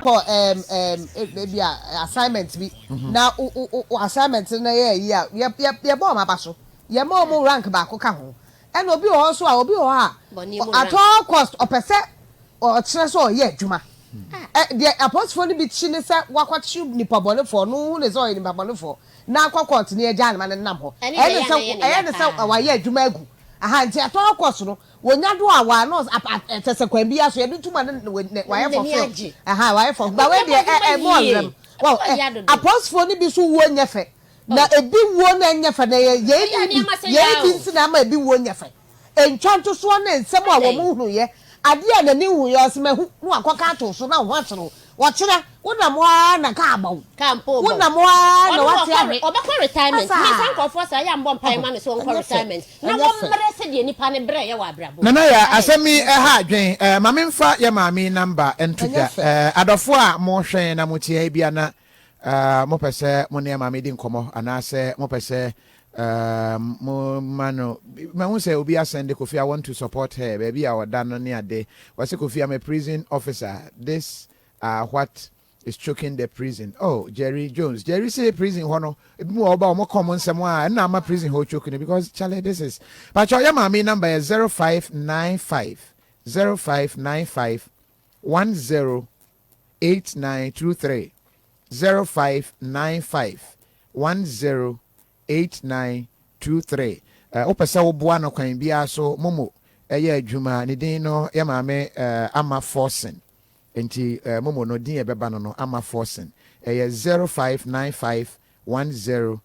kɔ ɛɛm ɛɛm ebi a assignment bi mhm. na o o o assignment no yɛ ayi a yɛ yɛ yɛ bɔ wɔn aba so yɛ ma wɔn rank baako ka ho ɛna obi wɔ hɔ nso a obi wɔ hɔ a at all cost ɔpɛ sɛ ɔkyerɛ sɛ ɔyɛ adwuma hmm. ɛ deɛ apolisifoɔ no bi kyi ne sɛ wakɔkye nipa bɔnefoɔ no hu ne sɛ ɔyɛ nipa bɔnefoɔ na akɔ kɔɔt ne agyaa no ma no nam hɔ ɛne sɛ ɛyɛ ne sɛ wayɛ adwuma agu aha nti ɛtɔ hɔ kɔs no wɔnya do a wɔa nɔs kyɛ sɛ kwan biara so yɛde tuma no wayɛ fɔfil aha wayɛ fɔfil ba wei deɛ ɛmu ɔwerɛm wɔn apɔsfoɔ no bi so wuo nyɛ fɛ na ebi wuo no nyɛ fɛ na yɛyi bi yɛyi bi nti na ama ebi wuo nyɛ fɛ. Ntwantosoɔ ne nsɛm a wɔnhunuiɛ, adeɛ a n'ani nhunuiɛ, ɔse mahu, na wakɔka ato so, na wo ho asere wo. Ɔkyena, wonam hɔ ara na kaa bɔ wo, wonam hɔ ara na wate awe. Ɔbɛkɔ retirement, menka nkurɔfoɔ saa, yɛammɔ mpaeɛ ma no sɛ ɔnkɔ retirement, na wɔmmerɛ sɛdeɛ nnipa no berɛ yɛ wɔ abrabɔ mu. Nana Yaa, asɛm yi ɛha adwen, ma menfa yɛ maame yi number nto dwa, adɔfoɔ a mo hwɛn na mo te ha yi biara na Eh, mopɛ sɛ mo ne maame di nkɔmmɔ anaasɛ mopɛ sɛ eh, mo ma no mahu sɛ obi asɛn de kofi i want to support her baabi a ɔda no ne ade wɔsɛ kofi i'm a prison officer this uh, what is choking the prison oh jerry jones jerry se prison hɔ no ebi mu wɔ ɔba wɔn kɔn mo nsɛm a ɛna ama prison hɔ choke no because charlie this is pakyɛ ɔyɛ maame number yɛ zero five nine five zero five nine five one zero eight nine two three zero five nine five one zero eight nine two three eh, wopɛ sɛ woboa no kwan biara so momo ɛyɛ adwuma ne din no yɛ maame eh, ama forsen nti eh, momo no din ɛbɛba no no ama forsen ɛyɛ zero five nine five one zero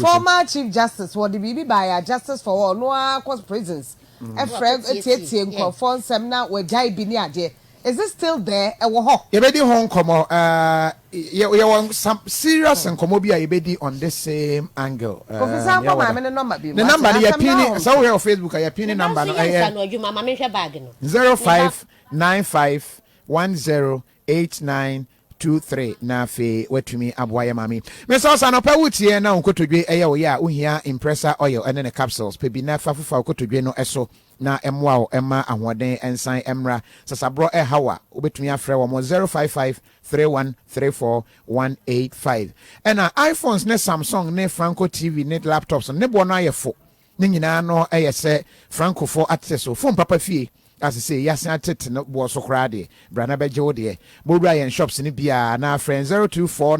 Former chief justice wɔde biribi baeɛ a justice for all ɔno ara kɔ prisons frɛ tietie nkurɔfoɔ nsɛm na wagyae bi ne adeɛ is it still there ɛwɔ hɔ? Yɛbɛdi ho nkɔmmɔ ɛɛ yɛwɔ some serious nkɔmmɔ bi a yɛbɛdi on this same angle ɛɛ Kofi san kɔ maame ne nɔmba bio ne nɔmba no yɛpin ne sɛ wohwɛ wɔ facebook a yɛpin ne nɔmba no ɛyɛ zero five nine five one zero eight nine two three na afei watumi aboa yɛ maame yi. Miss Ɔsa anɔpa wutie na wo nkotodwe yɛ wo ya a wuhia impressor oil ɛne ne capsules pɛ bi na fa fufa wo kotodwe no so na ɛmmoa wo mma ahoɔden nsan mmra sasaborɔ ɛha wo a wobɛtumi afrɛ wɔn wɔ zero five five three one three four one eight five ɛna iPhones ne Samsung ne Franco TV ne laptops no ne boɔ no ayɛ fo Ne nyinaa no yɛ sɛ Francofoɔ atete so fon papa fie a sesei yasen atete no boɔ so koraa deɛ. Bra na bɛgye wo deɛ. Bowura yɛn shops no bi a anaa frɛ yɛn zero two four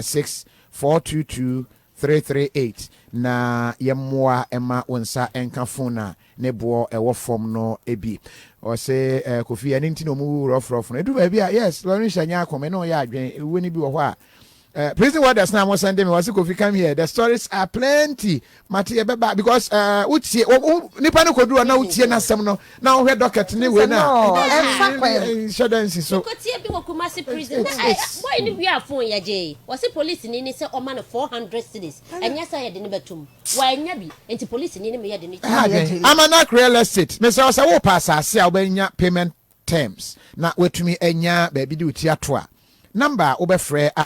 six four two two three three eight na yɛmmoa mma wo nsa nka fon a ne boɔ ɛwɔ fam no bi. Ɔse Kofi ɛno nti na ɔmu wu rɔfrɔf no ɛduru baabi a yes Laurentia nya ako me ne wo yɛ adwene ewuo no bi wɔ hɔ a Uh, prison warders na mo send me wasi kofi come here the stories are plenty mate yɛ bɛba because uh, wotie nipa no koduru na wotie n'asɛm no na wohwɛ dɔkɛt ne wei na nhyɛ dɛ nsi so kotie bi wɔ kumase prison na bɔyɛ ne wia fon yɛgye wɔse polisi ni ne sɛ ɔma no 400 cities ɛnyɛ sɛ yɛde ne bɛtom wɔanya bi nti polisi ni ne meyɛ de ne ama no akorɛ real estate mesɛ ɔsɛ wopa asase a wobɛnya payment terms, na woatumi anya baabi de wo ti ato a, namba a wobɛfrɛ a.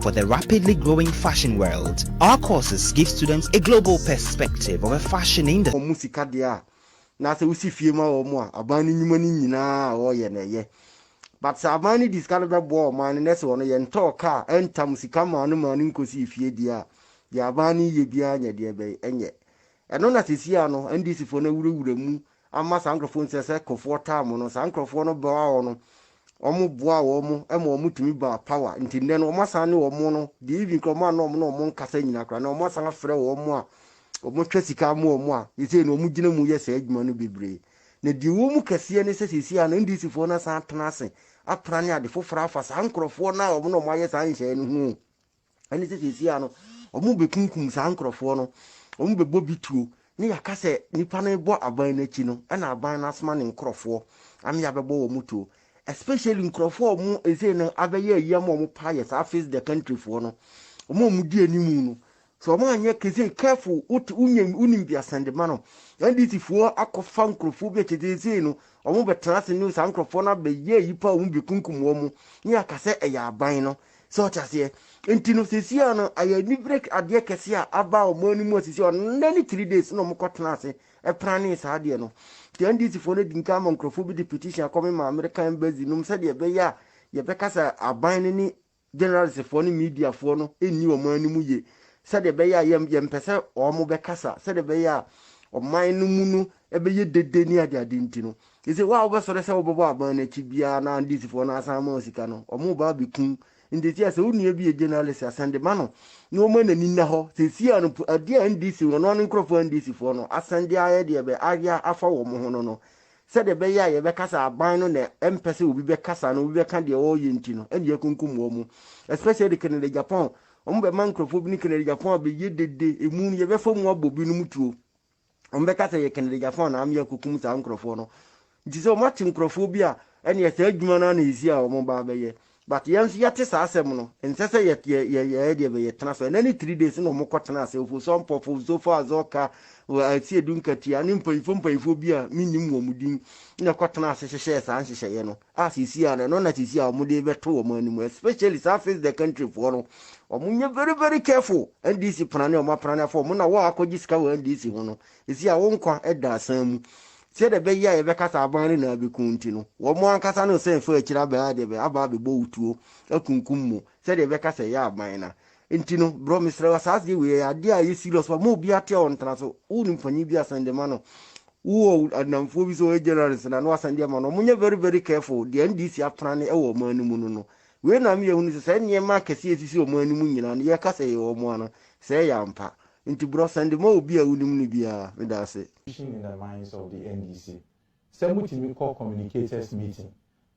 For the rapidly growing fashion world, our courses give students a global perspective of a fashion industry. wɔn sika deɛ a na sɛ wosi fie ma wɔn a aban no nnwuma no nyinaa a wɔyɛ no ɛyɛ but sɛ aban no de sika no bɛboa ɔman no na sɛ wɔn yɛntɔɔ car ɛntam sika maa no maa no nkɔsii fie deɛ a deɛ aban no yɛ biara nyɛ deɛ ɛbɛyɛ ɛnyɛ ɛno na sesia no NDC foɔ no awurawura mu amma saa nkorɔfoɔ nti ɛsɛ sɛ kofoɔ taa mo no, saa nkorɔfoɔ no bɛwɔ awɔ no, wɔn boaa wɔn mo ma wɔn tumi baa power, nti nnɛ no wɔn asan ne wɔn no deɛ even kora wɔn a na wɔn ne wɔn nkasa nyina kora no wɔn asan afrɛ wɔn mo a wɔn twɛ sika ama wɔn a sesei no wɔn gyina mu yɛ saa adwuma no bebree na deɛ ɛwɔ mu kɛseɛ ne sɛ sesei a no NDC foɔ no asan atena ase apra ne ade foforɔ afa saa nkorɔfoɔ no a wɔn ne wɔn ayɛ saa nhyɛɛ no ho o. Ɛne sɛ seesei a no, wɔbɛkunkum saa nkurɔfoɔ no, wɔbɛbɔ bi tuo, ne yɛaka sɛ nipa no rebɔ aban no akyi no, ɛna aban no asoma ne nkurɔfoɔ ama yɛabɛbɔ wɔn tuo. Especially nkurɔfoɔ a wɔn seesei no abɛyɛ ayi ama wɔn paa yɛ saa face the country foɔ no, wɔn a wɔdi anim no, sɛ wɔn anyɛ kesei careful, wote wonya wonim bi asɛnde ma no, NDC foɔ akɔfa nkurɔfoɔ bi akyɛ seesei no, wɔbɛtena ase ne saa nkurɔfoɔ no abɛyɛ ayi paa wɔbɛkunkum wɔn, ne yɛaka sɛ ɛyɛ aban no, So ɔte aseɛ? Nti no sesia no ɛyɛ anibere adeɛ kɛse a aba wɔn ani mu asisi ɔnɛ ne three days na wɔn kɔ tena ase ɛpranee saa adeɛ no. Nti NDC foɔ no di nka ama nkurɔfoɔ bi de petition akɔ me maame de ka embassy nom sɛdeɛ ɛbɛyɛ a yɛbɛkasa aban no ne generalist foɔ ne media foɔ no nni wɔn ani mu yie sɛdeɛ ɛbɛyɛ a yɛn yɛmpɛ sɛ wɔn bɛkasa sɛdeɛ ɛbɛyɛ a ɔman no mu no ɛbɛyɛ dede ne adeade nti no Ese wo a wobɛsɔre sɛ wobɛbɔ aban no akyi biara na Andisifoɔ no asan ama wo sika no, wɔreba abɛkum ntetea sɛ wo nua bi yɛ journalist a, sɛnde ma no na wɔma n'ani nna hɔ. Seesei ara no, adeɛ a NDC, wɔn ara ne nkorɔfoɔ Andisifoɔ no, asan de ayɛ deɛ bɛ ayɛ afa wɔn ho no no, sɛdeɛ ɛbɛyɛ a yɛbɛka sɛ aban no na ɛmpɛ sɛ obi bɛkasa anaa obi bɛka deɛ wɔreyɛ nti no ɛna yɛakunkum wɔn. Especially Canada Japan, wɔbɛma nkorɔfoɔ bi ne Canada Japan abɛyɛ dede, emu no yɛbɛfa mu abɔ binom tuo. wɔn bɛka sɛ yɛ kanadigyafo anaa mmea kokum saa nkurɔfoɔ no nti sɛ wɔn ate nkurɔfoɔ bi a ɛnneɛ saa adwuma no ana ɛsi a wɔn ba bɛyɛ but yɛn nso yɛte saa asɛm no nsɛ sɛ yɛ yɛ yɛ yɛ deɛ bɛyɛ tena so ɛnɛ ne three days na wɔn kɔ tena ase ofoso mpɔfo osofo azɔka ɛsi edu nkatia ne mpanyinfoɔ mpanyinfoɔ bi a menim wɔn din na ɛkɔ tena ase hyehyɛ saa nhyehyɛeɛ no a sisi a no ɛno na sisi a wɔn de bɛto wɔn anim especially saa face the country foɔ no wɔn nyɛ very very careful NDC prane wɔn aprane afɔ wɔn na wɔn a akɔgye sika wɔ NDC ho no sisi a wɔn nkwa ɛda asan mu sɛ de bɛyɛ a yɛbɛka saa aban no na abɛku nti no wɔn ankasa no sɛ ɛfa akyire abɛn adeɛ bɛ aba abɛbɔ wutuo akunkum mu sɛ de bɛka sɛ ɛyɛ aban na Nti no bro mesrɛ wo asaase wei ɛyɛ adeɛ a ɛyɛ serious paa ma obiara te a ɔntena so wo nim panyin bi a sɛn de ma no wo wɔ adnamfoɔ bi sɛ ɔyɛ journalist na no asɛn de ama no ɔmo nyɛ very very careful deɛ NDC apena ne ɛwɔ ɔman no mu no no wei na me yɛ hunu sɛ saa nneɛma akɛseɛ ɛsisi ɔman no mu nyinaa no yɛka sɛ ɛyɛ ɔmo a no sɛ ɛyɛ ampa nti bro sɛn de ma obi a wo nim no biara meda ase. position in the minds of the NDC sɛ motumi kɔ communicators meeting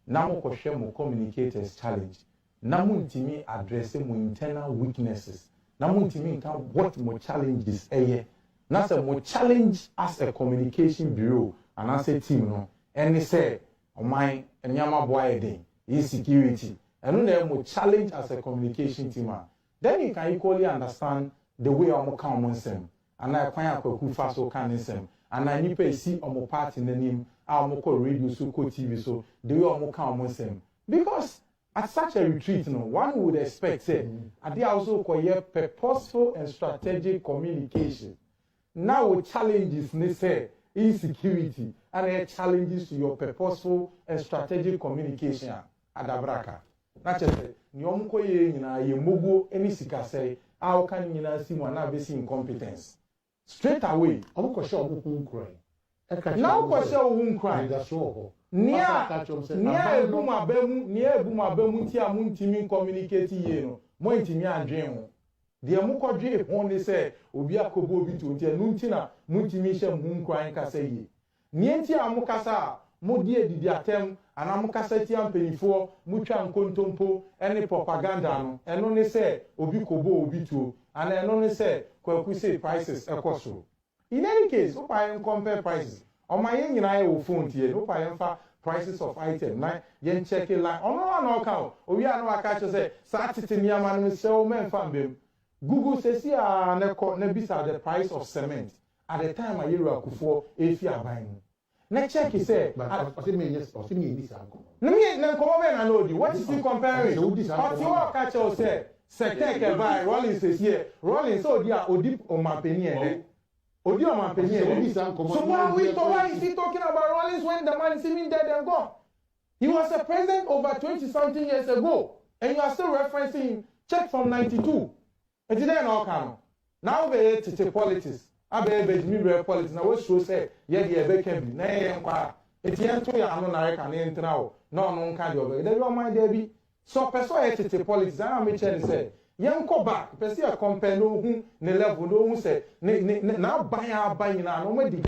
na mokɔhwɛ mo communicators challenge na mo ntumi address mo internal weaknesses na mo ntumi nka what mo challenges yɛ na sɛ mo challenge as a communication bureau anaasɛ team no ɛne sɛ ɔman nneɛma bo ayɛ den ɛyɛ security ɛno na ɛyɛ mo challenge as a communication team a then you can equally understand the way a wɔn ka wɔn nsɛm anaa ɛkwan a kwaku fa so ka ne nsɛm anaa nnipa esi wɔn party n'anim a wɔn kɔ radio so kɔ tv so the way wɔn ka wɔn nsɛm because At such a retreat no, one would expect sɛ adeɛ a wo nso wokɔyɛ purposeful and strategic communication na wo challenges ne sɛ insecurity ana ɛyɛ challenges to your purposeful and strategic communication a, adabraka. Na kyerɛ sɛ deɛ wɔkɔyɛɛ nyinaa yɛ mmoguo ne sikasɛe a woka no nyinaa si mu anaa bɛsi incompetence. Straight away, wɔn kɔ hyɛ wɔn ho nkuran. Ɛka kyerɛ wɔn sɛ. Na wo kɔ hyɛ wo ho nkuran. Anidasoɔ wɔ hɔ. Nea, Ɔsan ka kyerɛ wɔn sɛ, nea aban ebu no. mo aba mu, nea ebu mo aba mu nti a mo ntumi nkɔminikati yie no, mo antumi andwen ho. Deɛ mo kɔ dwee ho ne sɛ obi akɔbɔ obi tuo nti, ɛno nti na mo ntumi nhyɛ mo ho nkuran nkasa yie. Nea enti a mo kasa a mo de adidi atɛm anaa mo kasa tia mpanimfoɔ, mo twa nkontompo ne propaganda no, ɛno ne sɛ obi kɔbɔɔ obi tuo anaa ɛno ne sɛ Kwaku se prices kɔ soro. In any case, wo pa yɛn compare prices, ɔma yɛn nyinaa yɛ wo phone tie no, wo pa yɛn fa prices of item na yɛn check line, ɔno ara na ɔka o, owie a na waka akyerɛ sɛ saa tete nneɛma no mesrɛ wo mɛnfa mma mu. Google sɛsi ara na kɔ na bisa the price of cement at the time a Yeru Akufoɔ refi aban mu na check sɛ But a ɔse me nyɛ ɔse me nni saa nkɔmmɔ no. Na me na nkɔmmɔ bɛn na na ɔdi? What is he comparing? Ɔse wodi saa Ɔte nkɔmmɔ hɔ no. ɔka kyerɛ wo sɛ sɛ Kirk ɛbaeɛ, Rawlings ɛsi ɛ, Rawlings sɛ ɔdi a ɔdi ɔmanpanin ɛnɛ? Ɔwo. Ɔdi ɔmanpanin Ɔse sɛ ɛnɛ? wodi saa nkɔmmɔ So no why, who is, why why is he talking about Rawlings when the man is even dead and gone? He was a president over twenty something years ago and you are still referencing him, check from ninety two. Ntsi dɛ na ɔka no, na wobɛyɛ tsetse politics, abɛyɛ begyimi berɛ politics na wosuro sɛ yɛ de yɛbɛka bi na yɛyɛ nkɔ ara, ntsi yɛnto yɛn ano na reka no yɛntra o na ɔno nka deɛ ɔbɛka. Dabi ɔman dabi, sɛ ɔpɛ sɛ ɔyɛ tsetse politics a na mekyerɛ no sɛ yɛnkɔ back, pɛ sɛ yɛ compare na ohu ne level na ohu sɛ ne ne ne n'aban a aba nyinaa no ɔmadi